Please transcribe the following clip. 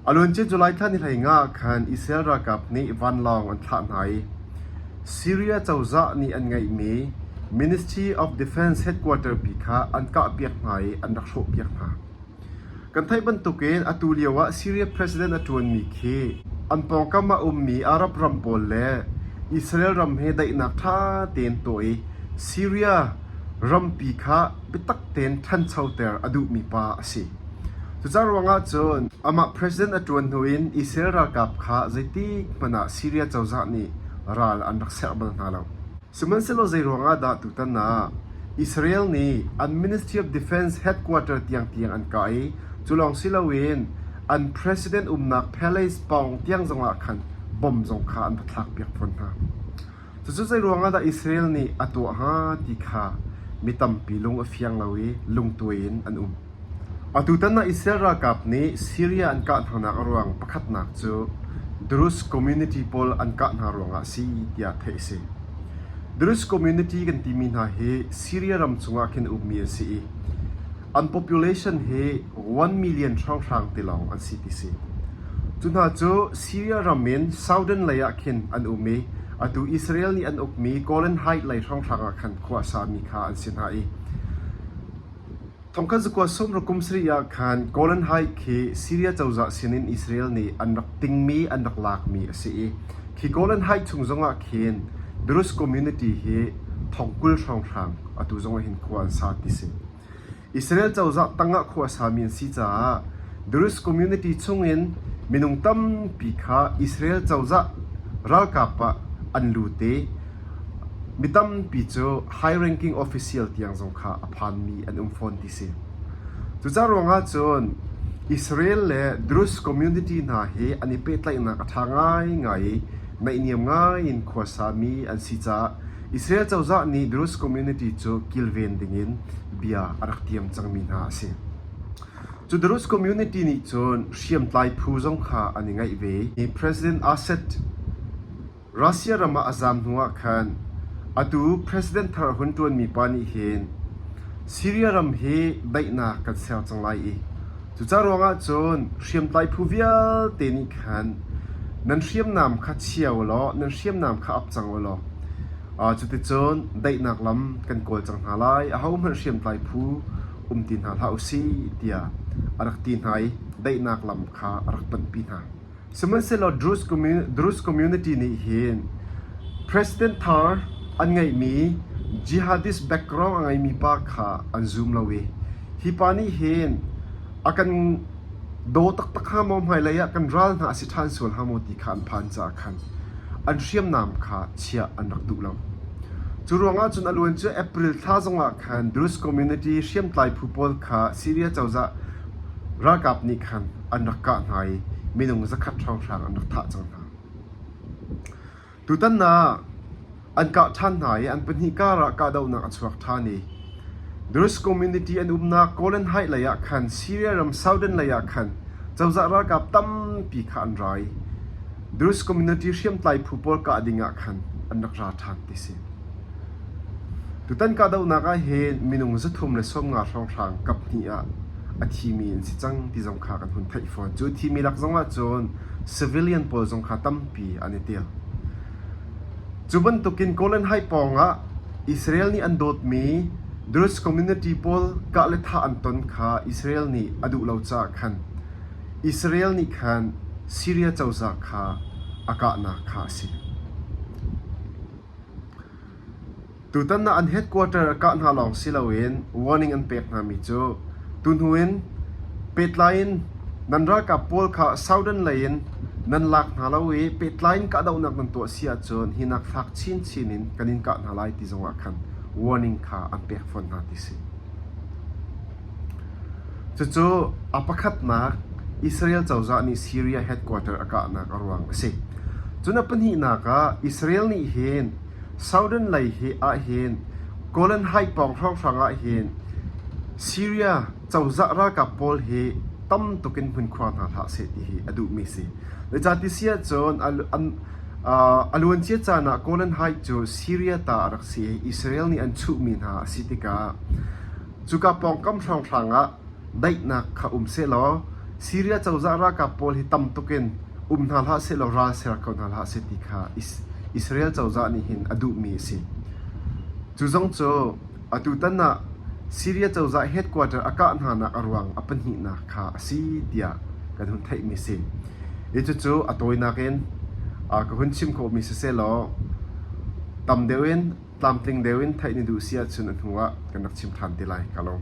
A luancia July thla ni hleingah khan Israel ralkap nih vanlawng an thlah hna i Syria cozah nih an ngeihmi Ministry of Defence headquarter pi kha an kahpiak hna i an rak hrawhpiak hna. Kan theih bantukin atu lioah Syria president a ṭuanmi khi an pawngkam ah a ummi Arab ram pawl le Israel ram he daihnak ṭha tein tuah i Syria rampi kha biatak tein ṭhanchoter a duhmi pa a si. Cucaah ruangah cun amah president a ṭuan hnu in Israel ralkap kha zeitikhmanh ah Siria cozah nih ral an rak serh bal hna lo. Sihmanhsehlaw zeiruangah dah tutan ah Israel nih an Ministry of Defence headquarter tiangtiang an kah i cu lawng si loin an president umnak palace pawng tiang zongah khan bom zong kha an va thlakpiak fawn hna? Cucu zeiruangah dah Israel nih a tuah hnga ti kha mi tampi lung a fiang lo i lungtuai in an um. Atutan ah Israel ralkap nih Syria an kah hnanak a ruang pakhatnak cu Druze community pawl an kah hna ruangah a si tiah theih a si. Druze community kan timi hna hi Syria ram chungah khin a ummi an si i An population hi one million hrawnghrang ti lawng an si ti si. Cu hna cu Syria ram in southern lei ah khin an um i atu Israel nih an ukmi Golan Heights lei hrawnghrang ah khan khua a sami kha an si hna i thong khat zakua sawmrauk kum sarih ah khan Golan Heights khi Syria cozah sinin Israel nih an rak tingmi an rak lakmi a si i khi Golan Heights chung zongah khin Druze community hi thong kul hrawnghrang atu zong ah hin khua an sa ti si. Israel cozah tangah khua a sami an si caah Druze community chungin minung tampi kha Israel cozah ralkap ah an lut i mi tampi cu high ranking official tiang zong kha a phanmi an um fawn ti si. Cucaah ruangah cun Israel le Druze community hna hi an i pehtlaihnak a ṭha ngaingai i naihniam ngai in khua sami an si caah Israel cozah nih Druze community cu kilven dingin bia a rak tiam cangmi hna a si. Cu Druze community nih cun hriamtlai phu zong kha an i ngaih ve i President Assad Russia ram ah a zaam hnuah khan atu President thar a hun ṭuanmi pa nih hin Syria ram hi daihnak kan ser cang lai i Cucaah ruangah cun hriamtlai phu vialte nih khan nan hriamnam kha chia ulaw nan hriamnam kha ap cang ulaw cuticun daihnak lam kan kawl cang hna lai. Ahohmanh hriamtlai phu um ti hna hlah u sih tiah a rak ti hna i daihnak lam kha a rak panhpi hna. Sihmanhsehlaw Druze community nih hin president thar an ngeihmi jihadist background a ngeimi pa kha an zum lo i hi pa nih hin a kan daw taktak hnga maw, hmailei ah kan ral hna a si ṭhan sual hnga maw ti kha an phan caah khan an hriamnam kha chiah an rak duh lo. Cu ruangah cun a luan cu April thla zongah khan Druze community hriamtlai phu pawl kha Syria cozah ralkap nih khan an rak kah hna i minung zakhat hrawnghrang an rak thah cang hna. Tutan ah an kah ṭhan hna i an pahnih kar ah kahdohnak a chuak ṭhan i Durrës community an umnak Kawlen Height lei ah khan Syria ram southern lei ah khan cozah ralkap tampi kha an ra i Durrës community hriamtlai phu pawl kah ding ah khan an rak ra ṭhan ti a si. Tutan kahdohnak ah hin minung zathum le sawmnga hrawnghrang kaphnih ah a thimi an si cang ti zong kha kan hun theih fawn. Cu thimi lak zongah cun civilian pawl zong kha tampi an i tel. Cu bantukin Golan Heights pawngah Israel nih an dawtmi Druze community pawl kah le thah an ton kha Israel nih a duh lo caah khan Israel nih khan Syria cozah kha a kahnak kha a si. Tutan ah an headquarter a kah hna lawng si loin warning an pek hna mi cu tuhnu in pehtlai in nan ralkap pawl kha Soudan lei in nan lak hna lo i pehtlai in kahdohnak nan tuah si ahcun hi nak fak chinchin in kan in kah hna lai ti zongah khan warning kha an pek fawn hna ti si. Cucu a pakhatnak Israel cozah nih Syria headquarter a kahnak a ruang a si. Cun a pahnihnak ah Israel nih hin southern lei ahhin Golan Heights pawng hrawnghrang ahhin Syria cozah ralkap pawl hi tam tuk in hmunkhua hna hlah seh ti hi a duhmi a si. Zeicatiah ahcun a luancia caan ah Golan Heights cu Syria ta a rak si i Israel nih an chuhmi hna a si tikah Cuka pawngkam hrawnghrang ah daihnak kha um sehlaw Siria cozah ralkap pawl hi tam tuk in um hna hlah sehlaw ral ser ko hna hlah seh ti kha Israel cozah nih hin a duhmi a si. Cu zong cu atutan ah Siria cozah headquarter a kah hnanak a ruang a pahnihnak kha a si tiah kan hun theihmi a si. Cucu a tawinak in ka hun chim khawhmi si sehlaw tam deuh in tlamtling deuh in theih na duh si ahcun a hnuah kan rak chim ṭhan te lai ka lawm.